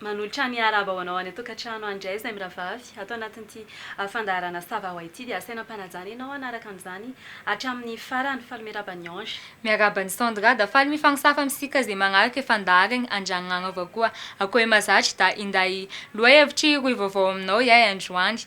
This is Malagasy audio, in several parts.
Manolotra ny arahaba ho anao any an-tokantrano any indray izahay mirahavavy. Ato anatin'ity fandaharana Sava ho ahy ity dia asaina am-panajana ianao hanaraka an'izany hatramin'ny farany. Faly miarahaba an'i Ange. Miarahaba an'i Sandra da faly mifagnosafa amintsika ze magnaraka e fandaharagny andragny agn'aova koa akoe mazatry da inday loha hevitry rohy vaovao aminao iay androany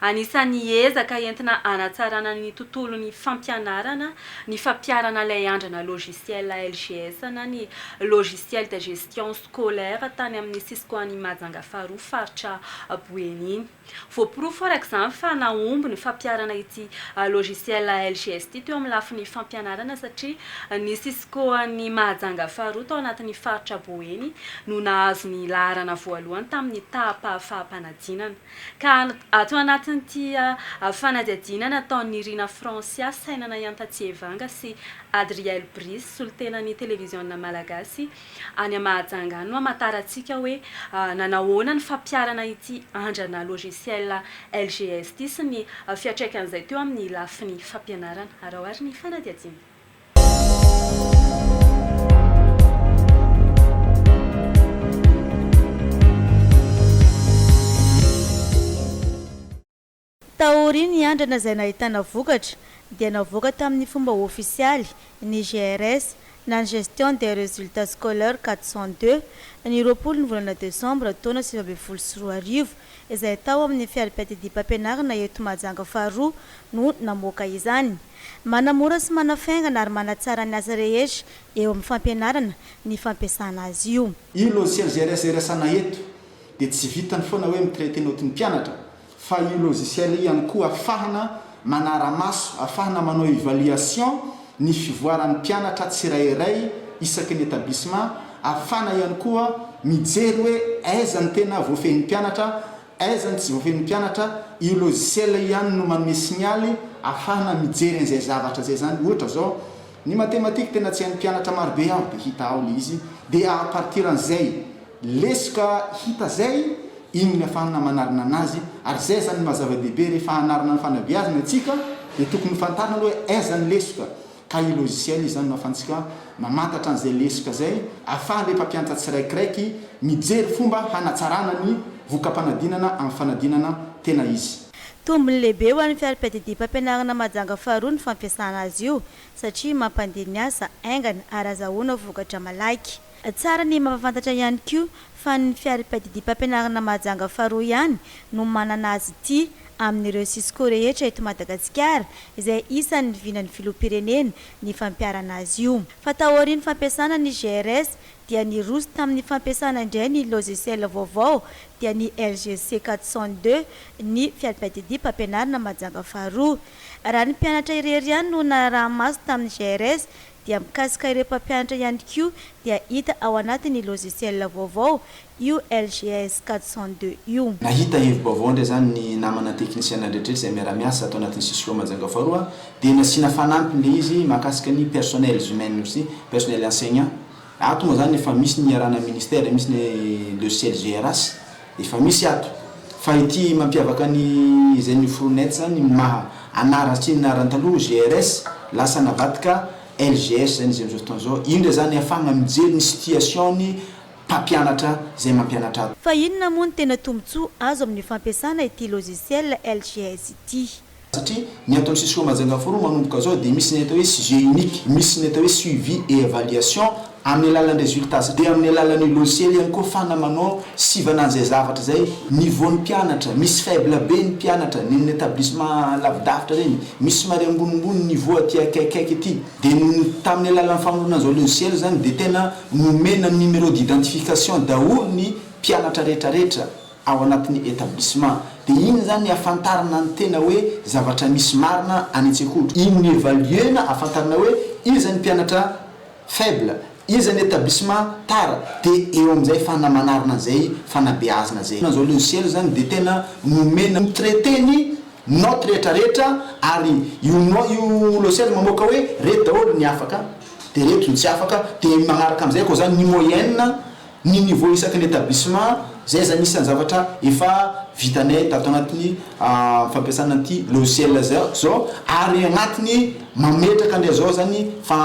Anisan'ny ezaka entina hanatsarana ny tontolon'ny fampianarana ny fampiharana ilay andrana logiciel LGS na ny Logiciel de Gestion Scolaire tany amin'ny Cisco any Mahajanga faharoa faritra Boeny iny. Voaporofo araka izany fa nahomby ny fampiharana ity logiciel LGS ity teo amin'ny lafiny fampianarana satria ny Cisco any Mahajanga faharoa tao anatin'ny faritra Boeny no nahazo ny laharana voalohany tamin'ny taham-pahafaham-panadinana Ka ato anatin'ity fanadihadiana nataon'i Nirina Francia, Sainana Iantatsievanga sy Adriel Brice, solontenan'ny televiziona malagasy any Mahajanga any no hamantarantsika hoe nanahoana ny fampiharana ity andrana logiciel LGS ity sy ny fiatraikan'izay teo amin'ny lafiny fampianarana. Araho ary ny fanadihadiana. Taorian'ny andrana izay nahitana vokatra, dia navoaka tamin'ny fomba ofisialy ny GRS na ny Gestion des Resultats Scolaires quatre cent deux, ny roapolo ny volana desambra taona sivy ambin'ny folo sy roa arivo, izay tao amin'ny fiaripiadidiam-pampianarana eto Mahajanga faharoa no namoaka izany. Manamora sy manafaingana ary manatsara ny asa rehetra eo amin'ny fampianarana ny fampiasana azy io. Io logiciel GRS iresaana eto dia tsy vitany foana hoe mi-traiter note ny mpianatra fa io logiciel io ihany koa afahana manara-maso afahana manao evaluation ny fivoaran'ny mpianatra tsirairay isaky ny établissement, afahana ihany koa mijery hoe aiza ny tena voafehin'ny mpianatra, aiza ny tsy voafehin'ny mpianatra, io logiciel io ihany no manome signaly afahana mijery an'izay zavatra izay izany, ohatra izao. Ny mathématique tena tsy hain'ny mpianatra marobe aho dia hita ao le izy dia à partir an'izay lesoka hita zay iny no afahana manarina anazy ary zay zany no maha zava-dehibe rehefa hanarina ny fanabeazana itsika dia tokony ho fantarina aloha hoe aiza ny lesoka ka io logiciel io zany no afantsika mamantatra an'izay lesoka zay afaha le mpampiantra tsiraikiraiky mijery fomba hanatsarana ny voka-panadinana amin'ny fanadinana tena izy. Tombony lehibe ho an'ny fiarapiadidihim-pampianarana Mahajanga faharoa ny fampiasana azy io satria mampandeha ny asa haingana ary azahoana vokatra malaky. Tsara ny mampahafantatra ihany koa fa ny fiarapiadidihim-pampianarana Mahajanga faharoa ihany no manana azy ity amin'ireo Cisco rehetra eto Madagasikara izay isan'ny vinan'ny Filoham-pirenena ny fampiharana azy io fa taorian'ny fampiasana ny GRS dia niroso tamin'ny fampiasana indray ny logiciel vaovao dia ny LGC 402 ny fiadimpadidia mpampianarina Mahajanga faharoa. Raha ny mpianatra irery ihany no naraha-maso tamin'ny GRS dia mikasika ireo mpampianatra ihany koa dia hita ao anatin'ny logiciel vaovao io LGS 402 io. Nahita hevi-baovao indray izany ny namana teknisiana rehetra izay miara-miasa ato anatin'ny CISCO Mahajanga faharoa dia nasiana fanampiny ilay izy mahakasika ny personnels humaines aussi, personnels enseignants. Ato moa izany efa misy ny iarahana ministère, misy ny le CLGRAS, efa misy ato. Fa ity mampiavaka ny izay noforonay ato izany ny maha anarana sy ny anarany taloha GRS lasa navadika LGS izany izy amin'izao fotoana izao. Io indray izany ahafahana mijery ny situation-ny. mpampianatra izay mampianatra azy. Fa inona moa ny tena tombontsoa azo amin'ny fampiasana ity logiciel LGS ity? Satria ny ato amin'ny Cisco Majanga Forum manomboka izao dia misy ny atao hoe sujet unique, misy ny atao hoe suivi et evaluation amin'ny alalan'ny resultats dia amin'ny alalan'io logiciel ihany koa fana manao sivana an'izay zavatra izay, niveau ny mpianatra, misy faible be ny mpianatra ny amin'ny etablissement lavidavitra ireny, misy somary ambonimbony ny niveau aty akaikikaiky ity. Dia ny tamin'ny alalan'ny famoronana izao logiciel izany dia tena nomena numéro d'identification daholo ny mpianatra rehetra rehetra ao anatin'ny établissement. Dia iny izany ahafantarana ny tena hoe zavatra misy marina any an-tsekoly. Iny no evaluer-na ahafantarana hoe iza ny mpianatra faible, Iza ny etablissement tara de eo amizay fana manarina zay fanabeazna zay. Zao logiciel zany de tena nomena mi traiter ny note rehetra rehetra ary io note io logiciel mamoaka hoe reto daholo ny afaka de reto ny tsy afaka de magnaraka amizay ko zany ny moyenne, Ny niveau isaky ny établissement, izay izany isan'ny zavatra efa vitanay tato anatin'ny fampiasana an'ity logiciel izao ary agnatiny mametraka ndray izao izany fa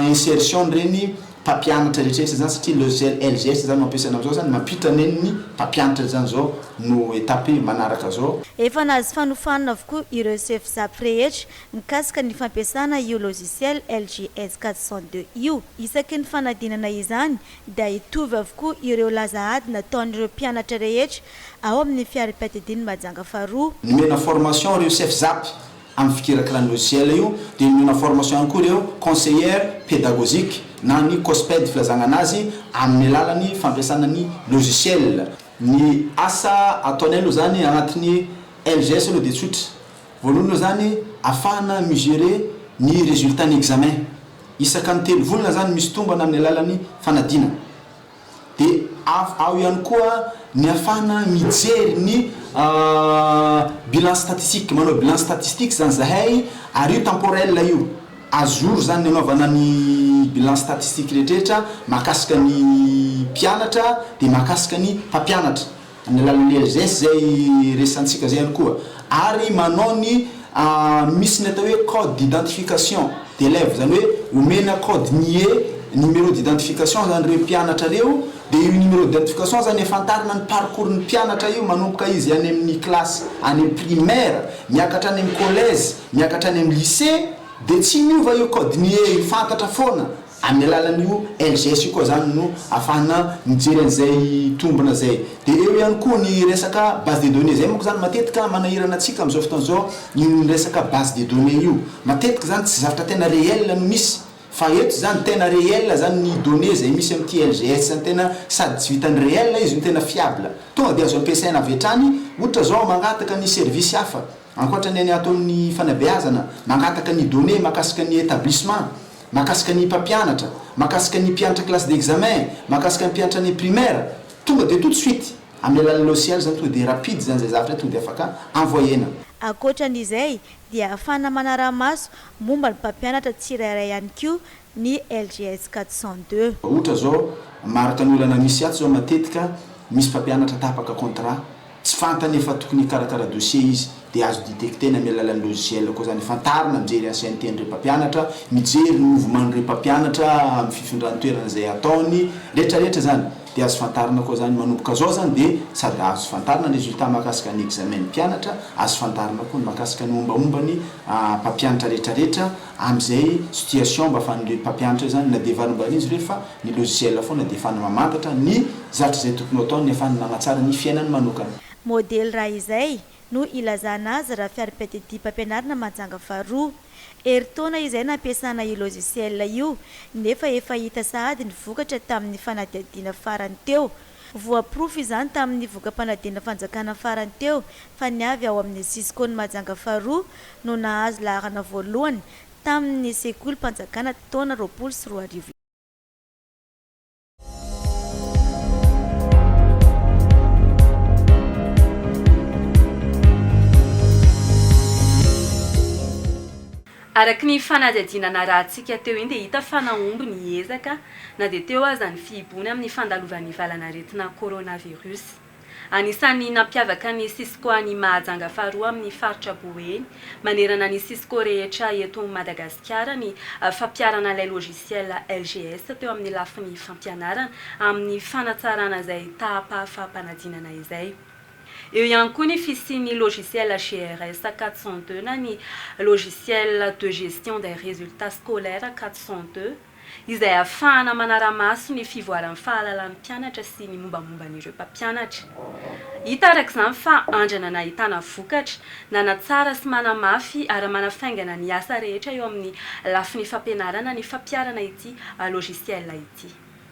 insertion an'ireny mpampianatra rehetrarehetra izany satria logiciel LGS izany no ampiasaina amin'izao izany, mampiditra an'eny ny mpampianatra izany izao no étape manaraka izao. Efa nahazo fanofanana avokoa ireo CFSAP rehetra mikasika ny fampiasana io logiciel LGS 402 io. Isaky ny fanadinana izany dia hitovy avokoa ireo laza ady nataon'ireo mpianatra rehetra ao amin'ny fiaripiadidian'i Mahajanga faharoa. Nomena formation ireo chef Zap amin'ny fikirakirana logiciel io, dia nomena formation ihany koa ireo conseillère pédagogique na ny cosped filazagna anazy amin'ny alalan'ny fampiasana ny logiciel. Ny asa ataonay aloha izany agnatin'ny LGS aloha dia tsotra. Voalohany aloha zany afahana mi-gerer ny resultat ny examen. Isaka ny telo volana zany misy tombana amin'ny alalan'ny fanadinana. De av ao ihany koa ny afahana mijery ny bilan statistique, manao bilan statistique zany zahay ary io temporel io. A jour zany ny anaovana ny bilan statistique rehetrrehetra mahakasika ny mpianatra de mahakasika ny mpampianatra. Amin'ny alalan'ny LGS izay resahantsika izay ihany koa ary manao ny misy ny atao hoe code d'identification d'élève, izany hoe omena kaody nie, numéro d'identification, izany ireo mpianatra ireo dia io numéro d'identification izany ahafantarana ny parcours ny mpianatra io manomboka izy any amin'ny kilasy any amin'ny primaire miakatra any amin'ny collège miakatra any amin'ny lycée dia tsy miova io kaody nie io, fantatra foana. Amin'ny alalan'io LGS io koa izany no afahana mijery an'izay tombina izay. Dia eo ihany koa ny resaka base de données. Izay manko izany matetika manahirana antsika amin'izao fotoana izao io resaka base de données io. Matetika izany tsy zavatra tena réel no misy. Fa eto izany tena réel izany ny données izay misy amin'ity LGS izany. Tena sady tsy vitan'ny réel izy no tena fiable. Tonga dia azo ampiasaina avy hatrany. Ohatra izao mangataka ny service hafa, ankoatra ny an'ny ataon'ny fanabeazana, mangataka ny données mahakasika ny établissement. Mahakasika ny mpampianatra, mahakasika ny mpianatra classe d'examen, mahakasika ny mpianatra any primaire, tonga dia tout de suite amin'ny alalan'ny logiciel izany tonga dia rapide izany izay zavatra izay tonga dia afaka envoyena. Ankoatran'izay dia ahafana manara-maso momba ny mpampianatra tsirairay ihany koa ny LGS quatre cent deux. Ohatra izao, maro tany olana misy ato izao matetika misy mpampianatra tapaka contrat, Tsy fantany fa tokony hikarakara dossier izy dia azo detecter-na amin'ny alalan'ny logiciel koa izany. Fantarina mijery ancienneté an'ireo mpampianatra, mijery ny mouvement an'ireo mpampianatra amin'ny fifindran-toerana izay ataony, rehetra rehetra izany dia azo fantarina koa izany. Manomboka izao izany dia sady azo fantarina ny résultat mahakasika ny examen ny mpianatra, azo fantarina koa ny mahakasika ny mombamomba ny mpampianatra rehetra rehetra. Amin'izay situation mba afahan'ireny mpampianatra izany na dia varimbarian'izy ireny fa ny logiciel foana dia ahafahana mamantatra ny zatra izay tokony ho ataony ahafahany manatsara ny fiainany manokana. Modely raha izay no ilazana azy raha fiarimpedidiam-pampianarana majanga faharoa. Herintaona izay nampiasana io logiciel io nefa efa hita sahady ny vokatra tamin'ny fanadihadiana farany teo Voaporofo izany tamin'ny voka-panadinana fanjakana farany teo fa ny avy ao amin'ny Cisco ny Mahajanga faharoa no nahazo laharana voalohany tamin'ny sekolim-panjakana taona roapolo sy roa arivo lasa. Araka ny fanadihadiana narahantsika teo iny dia hita fa nahomby ny ezaka na dia teo aza ny fihiboana amin'ny fandalovan'ny valan'aretina coronavirus. Anisan'ny nampiavaka ny Cisco any Mahajanga faharoa amin'ny faritra Boeny manerana ny Cisco rehetra eto Madagasikara ny fampiharana ilay logiciel LGS teo amin'ny lafiny fampianarana amin'ny fanatsarana izay tahapahafaham-panadinana izay. Eo ihany koa ny fisian'ny logiciel GRS 402 na ny Logiciel de gestion des résultats scolaires 402, izay ahafahana manara-maso ny fivoaran'ny fahalalan'ny mpianatra sy ny mombamomban'ireo mpampianatra. Hita araka izany fa andrana nahitana vokatra, nanatsara sy manamafy ary manafaingana ny asa rehetra eo amin'ny lafiny fampianarana ny fampiharana ity logiciel ity.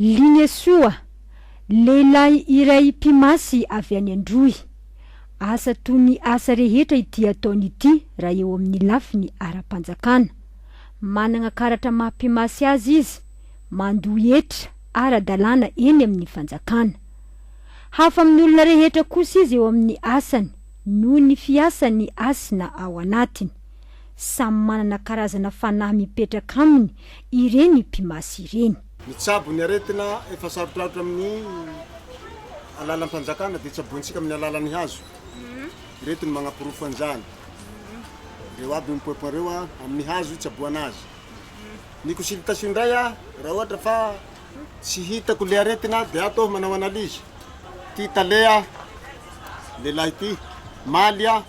Lignesoa, lehilahy iray mpimasy avy any Androy. Asa toy ny asa rehetra ity ataony ity raha eo amin'ny lafiny ara-panjakana. Manana karatra maha mpimasy azy izy, mandoa hetra ara-dalàna eny amin'ny fanjakana. Hafa amin'ny olona rehetra kosa izy eo amin'ny asany noho ny fiasany hasina ao anatiny. Samy manana karazana fanahy mipetraka aminy ireny mpimasy ireny. Ny tsabo ny aretina efa sarotrarotra amin'ny alalam-panjakana dia tsabointsika amin'ny alalan'ny hazo. Ireto no manaporofo an'izany. Ireo aby io mipoipoin ireo a, amin'ny hazo itsaboana azy. Ny consultation indray a, raha ohatra fa tsy hitako le aretina dia ato aho manao analyse. Ty tale a, lehilahy ty, maly a,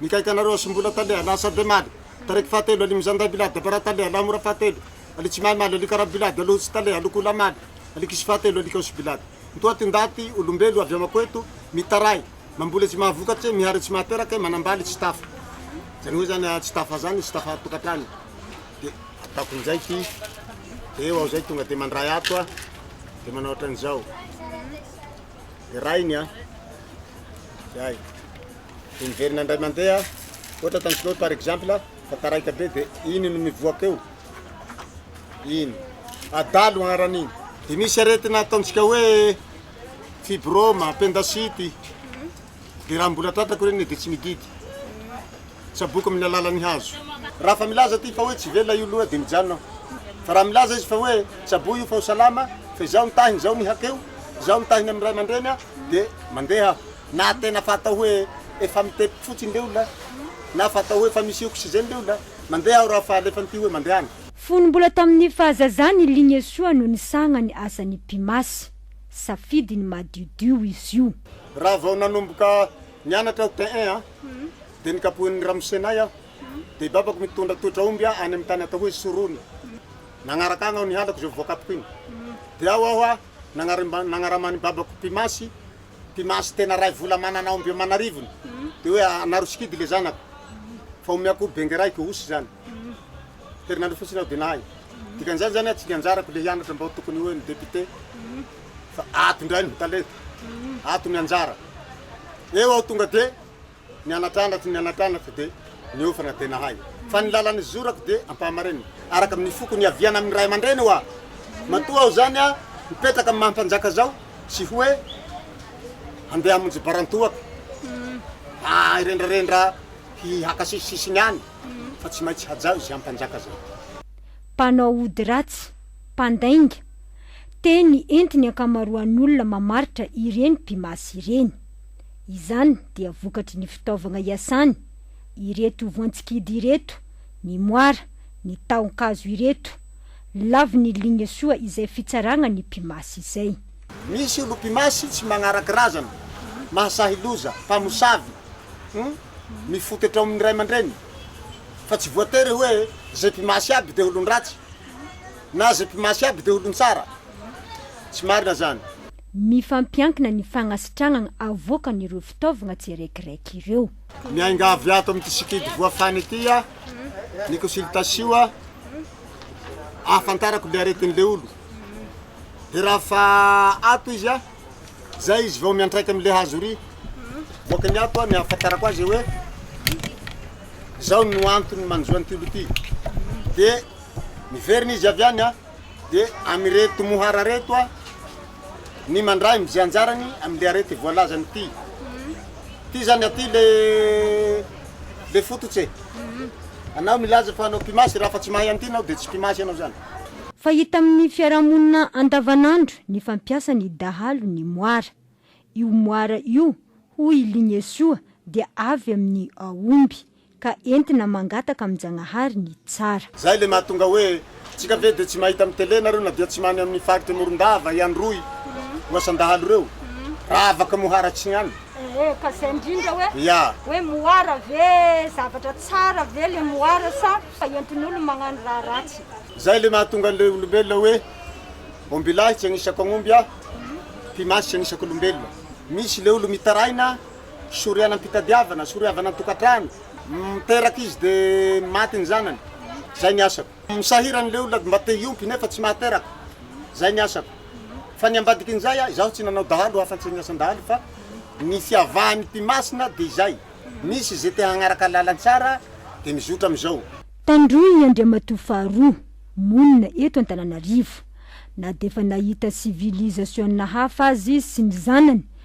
Mikaika anareo asimbola tale ala asabe maly taraiky fahatelo ali mizanday bilady dabara tale ala mora fahatelo ali tsy mahay maly ali karaha bilady alo tsy tale alo kola maly ali kisy fahatelo ali kaosy bilady mitoa ty ndaty olombelo avy amako eto mitaray mamboly tsy mahavokatse mihary tsy mahaterake manambaly tsy tafa zany hoe zany tsy tafa zany tsy tafa tokatrano de ataoko injay ty eo aho zay tonga de mandray ato a de manao ohatran'izao de rainy a zay dia miverina indray mandeha ohatra ataontsika hoe par exemple fa taraiky be dia iny no mivoaka eo iny adalo agnaran'iny dia misy aretina ataontsika hoe fibrome appendicite dia raha mbola tratrako ireny dia tsy mididy tsaboiko amin'ny alalan'ny hazo raha fa milaza ity fa hoe tsy velona io loha dia mijanona aho fa raha milaza izy fa hoe tsaboy io fa ho salama fa izaho mitahiny izaho mihakeo izaho mitahiny amin'ny ray aman-dreny aho Dia mandeha aho. Na tena fatao hoe efa mitepoky fotsiny le olona, na fatao hoe efa misy oxygène le olona, mandeha aho raha fa alefan'ity hoe mandehana. Fony mbola tamin'ny fahazazany i Lignesoa no nisagna ny asan'i Pimasy. Safidiny madiodio izy io. Raha vao nanomboka nianatra aho tin un an, dia nikapohin'ny ramosenay aho, dia i babako mitondra totra omby any amin'ny tany atao hoe Sorony. Nagnaraka agny aho nihalako izay voakapoko igny. Dia ao aho a! nagnaraman'ny babako Mpimasy, Mpimasy tena ray vola manana omby aman'arivony, dia hoe anaro sikidy le zanako fa omeako omby bengeraiko, osy zany, herinandro fotsiny aho dia nahay, dikan'izany zany hoe tsy nianjarako le hianatra mba ho tokony hoe ny député fa ato indray no talenta, ato ny anjara, eo aho tonga dia. Ny anatrandratsy ny anatrandratsy dia niofana dia nahay. Fa ny lalan'ny zorako dia ampahamarinina, araka amin'ny foko niaviana amin'ny ray aman-dreny hoa. Matoa aho izany a, mipetraka amin'ny maha-mpanjaka izao, tsy hoe handeha hamonjy barantohako, aa hirendrarendra hi haka sisy sisiny any, fa tsy maintsy hajao izay ampanjaka izay. Mpanao ody ratsy, mpandainga, teny enti ny ankamaroan'olona mamaritra ireny mpimasy ireny. Izany dia vokatry ny fitaovagna iasany ireto voan-tsikidy ireto, ny moara, ny tahon-kazo ireto. Lavo ny ligne soa izay fitsaragna ny mpimasy izay. Misy olo mpimasy tsy magnaraky razana, mahasahy loza, mpamosavy, humm, mifototro amin ny ray aman-dreny. Fa tsy voatery hoe ze mpimasy aby de olon-dratsy, na ze mpimasy aby de olon-tsara. Tsy marina zany. Mifampiankina ny fagnasitragnan avoakan ireo fitaovagna tsirekireky ireo. Miangavy ato amin'ity sikidy voafana ity aho ny consultation ahafantarako le aretin'le olo de raha fa ato izy zay izy vao miantraika amle hazo ry boaka ny ato ny ahafantarako azy hoe zao no antony manjo an'ity olo ity de miverina izy avy any an. dia amin'ireto mohara ireto aho ny mandray amin'izay anjarany amin'ilay arety voalazany ity. Ity izany aty le le fototse. Anao milaza fa anao mpimasy raha fa tsy mahay an'ity ianao dia tsy mpimasy ianao izany. Fahita amin'ny fiarahamonina andavanandro ny fampiasan'ny dahalo ny moara. Io moara io, hoy i Lignesoa, dia avy amin'ny aomby. ka entina mangataka amin'Jagnahary ny tsara. Zay le mahatonga hoe tsika ve de tsy mahita am tele nareo na dia tsy many aminy faritra morondava i androy ho asa ndahalo reo raha avaka mohara tsy an Ee ka zay ndrindra hoe hoe mohara ve zavatra tsara ve le mohara sa fa entin'olo magnano raha ratsy. Zay le mahatonga anle olombelona hoe ombilahy tsy agnisako agnomby aho, pimasy tsy agnisako olombelona, misy le olo mitaraina Soriana am-pitadiavana, soriavana an-tokantrano, miteraka izy dia maty ny zanany. Izay ny asako. Misahirana ilay olona mba te hiompy nefa tsy mahateraka. Izay ny asako. Fa ny ambadikin'izay aho, izaho tsy nanao dahalo afa-tsy ny asan-dahalo fa ny fiavahan'ny mpimasina dia izay, misy izay te hagnaraka lalan-tsara dia mizotra amin'izao. Tandroy Andriamatoa Faharoa, monina eto Antananarivo. Na dia efa nahita civilisation-na hafa aza izy sy ny zanany,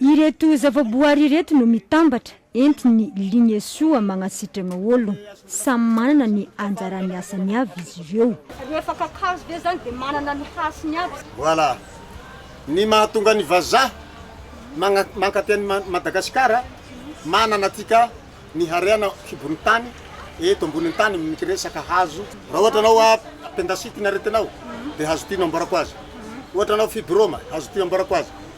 Ireto zavaboary ireto no mitambatra entin'ny Lignesoa magnasitragna ôlogno. Samy manana ny anjarany asany avy izy ireo. Rehefa kakazo ve zany dia manana ny hasiny aby. Voilà ny mahatonga ny vazaha magna mankaty any Madagasikara manana antsika ny harena kibon'ny tany eto ambonin'ny tany mity resaka hazo raha ohatra anao a pendasity ny aretinao dia hazo ty no amboarako azy ohatra anao fibroma hazo ty amboarako azy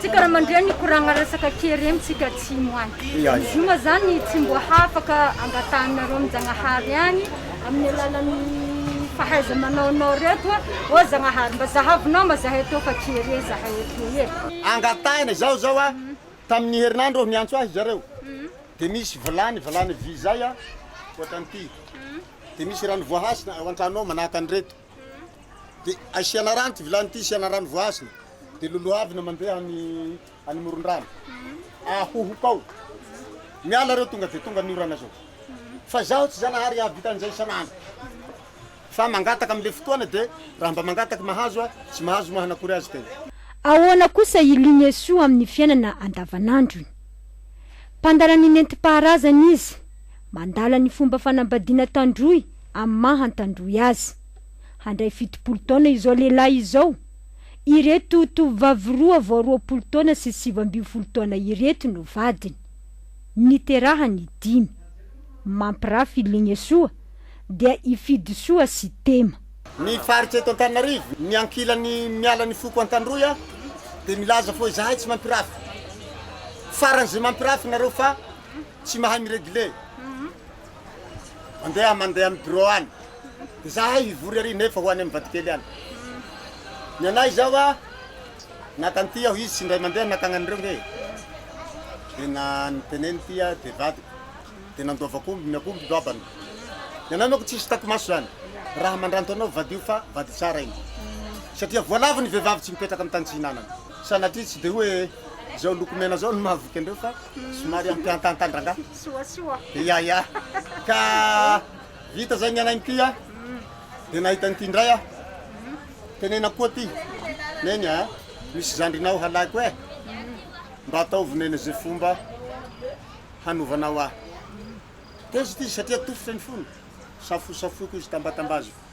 Tsika raha mandreny hikoragna resaka ke reny tsika atsimo any. Izy io ma zany tsy mbo hafaka angatahinareo am Jagnahary any amin'ny alalan'ny fahaiza manaonao reto a! Ô Zagnahary mba zahavinao ma zahay tô fa ke re zahay eto e! Angatahina, izaho zao a, tamin'ny herinandro aho niantso ahy zareo de misy vilany, vilany vy zay a, ohatran'ity, de misy rano voahasina ao antrano ao manahaka an'ireto. dia asiana rano ity vilany ity, asiana rano voasana, dia lolohavina mandeha any any moron-drano, ahohoka ao, miala ireo tonga dia tonga ny orana zao. Fa izaho tsy Zanahary hahavita an'izay isan'andro, fa mangataka amin'ilay fotoana dia raha mba mangataka mahazo aho, tsy mahazo moa hanakory azy kay. Ahoana kosa i Lingyesu amin'ny fiainana andavanandrony? Mpandala ny nentim-paharazana izy, mandala ny fomba fanambadiana tandroy amin'ny maha antandroy azy. Handray fitopolo taona izao lehilahy izao. Ireto tovovavy roa vao roapolo taona sy sivy ambin'ny folo taona ireto no vadiny. Niterahany i Dimy. Mampirafy i Lignesoa dia i Fidisoa sy Tema. Ny faritra eto Antananarivo, ny ankilany miala ny foko Antandroy aho dia milaza foa izahay tsy mampirafy. Faran'izay mampirafy nareo fa tsy mahay mi-regle. Mandeha mandeha amin'ny bureau any. Dia izahay hivory ary nefa ho any amin'ny vadikely any. Ny anay izao a, nankany aho izy sy indray mandeha nankany an'ireo ange. Dia nanonteneny ity a, dia vadiko. Dia nandova akombony, ny akombony doabany. Ny anay manko tsy hisy takimaso izany. Raha mandranto anao vadio fa vady tsara iny. Satria voalavo ny vehivavy tsy mipetraka amin'ny tany tsy ihinanany. Sanatria tsy dia hoe izao loko mena izao no mahavoky an'ireo fa somary ampiantantan-drangahy. Soasoa. Ya ya. Ka vita izay ny anay mitia a, dia nahita an'ity indray aho. Tenenako koa ity, Neny a, misy zandrinao halaiko e, mba ataovy Neny izay fomba hanovanao ahy. Tezitra izy satria tofitra ny fony, safosafoiko izy, tambatambaziko.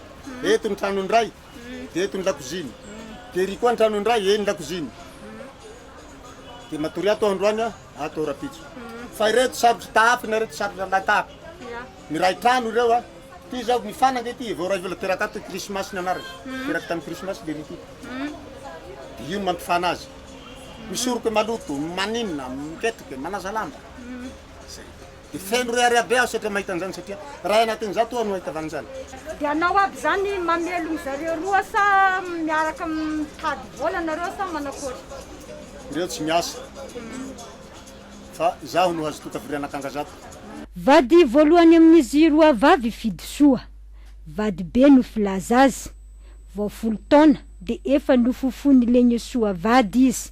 eto ny trano ny ray de eto ny lakoziny de ery koa ny trano ny ray eny lakoziny de matory ato androany a ato rapitso fa ireto sarotra tahafina ireto sarotra lahatahaka ny ray trano ireo a ty zao mifanaka ity vao ray vola teraka ato krismasy ny anarany teraka tamin'ny krismasy de rity de io no mampifana azy misoroka maloto maninona miketrika manaza lamba zay Dia feno reary aby aho saika mahita an'izany satria iray anatin'izato aho no hahita valin'izany. Dia hanao aby izany mamelogno zareo roa sa miaraka mitady vola nareo sa manakory? Ireo tsy miasa fa izaho no hazotoa tavorian'akanga zato. Vady voalohany amin'izy roa vavy Fidisoa. Vadibe no filaza azy. Vao folo taona dia efa nofofoin'i Legnesoa vady izy.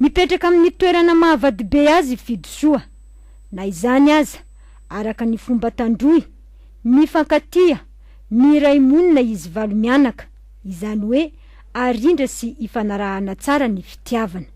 Mipetraka amin'ny toerana mahavadibe azy i Fidisoa. Na izany aza, araka ny fomba tandroy, mifankatia, miray monina izy valo mianaka, izany hoe arindra sy ifanarahana tsara ny fitiavana.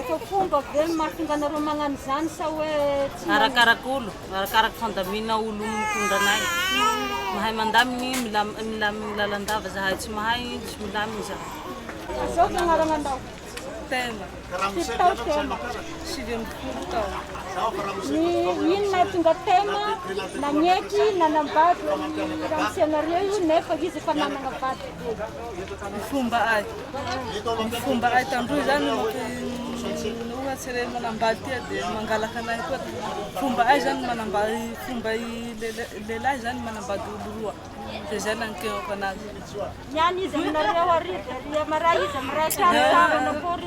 Efa fomba ve ny mahatonga anareo magnano izany sa hoe tsy manisy? Arakaraka olo, arakaraka fandamina olo mitondra anay. Mahay mandaminy, milaminy lalandava zahay, tsy mahay de tsy milaminy zahay. Azao ve agnarana ndao? Tema. Firy taona Tema? Sivy amby folo taona. Ny ino nahatonga Tema nagneky nanambady ny ramose anareo io nefa izy efa nanagna vady kely? Ny fomba ahy. Ny fomba hay tandroy izany no ohatry ilay manambady ity dia mangalaka anay koa. Fomba hay izany ny manambady, fomba lehilahy izany ny manambady olo roa. Dia izay nanenkeako anazy. Ny any izy aminareo hariva ery amaray izy amiray trano sarana akory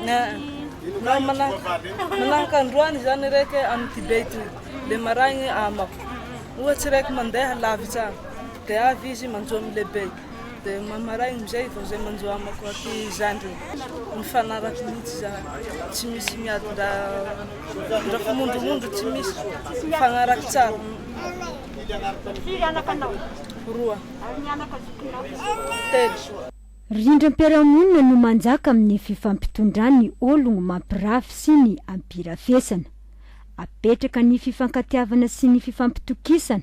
Manahaka androany izany iraiky amin'ny Tibet io. Dia maraina amako. Ohatry iraiky mandeha lavitra any dia avy izy manjo amin'ny lehibe. Dia mahamaraina amin'izay vao izay manjo amako aty zandriny. Mifanaraka mihitsy izany. Tsy misy miadin-dra ndra fimondromondro tsy misy. Mifanaraka tsara. Firy anaka anao? Roa. Ary ny anaka zokinao? Telo. Rindram-piarahamonina no manjaka amin'ny fifampitondran'ny ologno mampirafy sy ny ampirafesana. Apetraka ny fifankatiavana sy ny fifampitokisana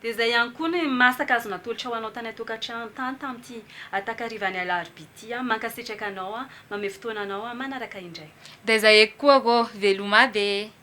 Dia izay ihany koa ny masaka azo natolotra ho anao tany an-tokantrano tany tamin'ity takarivan'ny alarobia ity an! Mankasitraka anao an! Mamehy fotoana anao an! Manaraka indray. Dia izay eky koa ô! Veloma be e!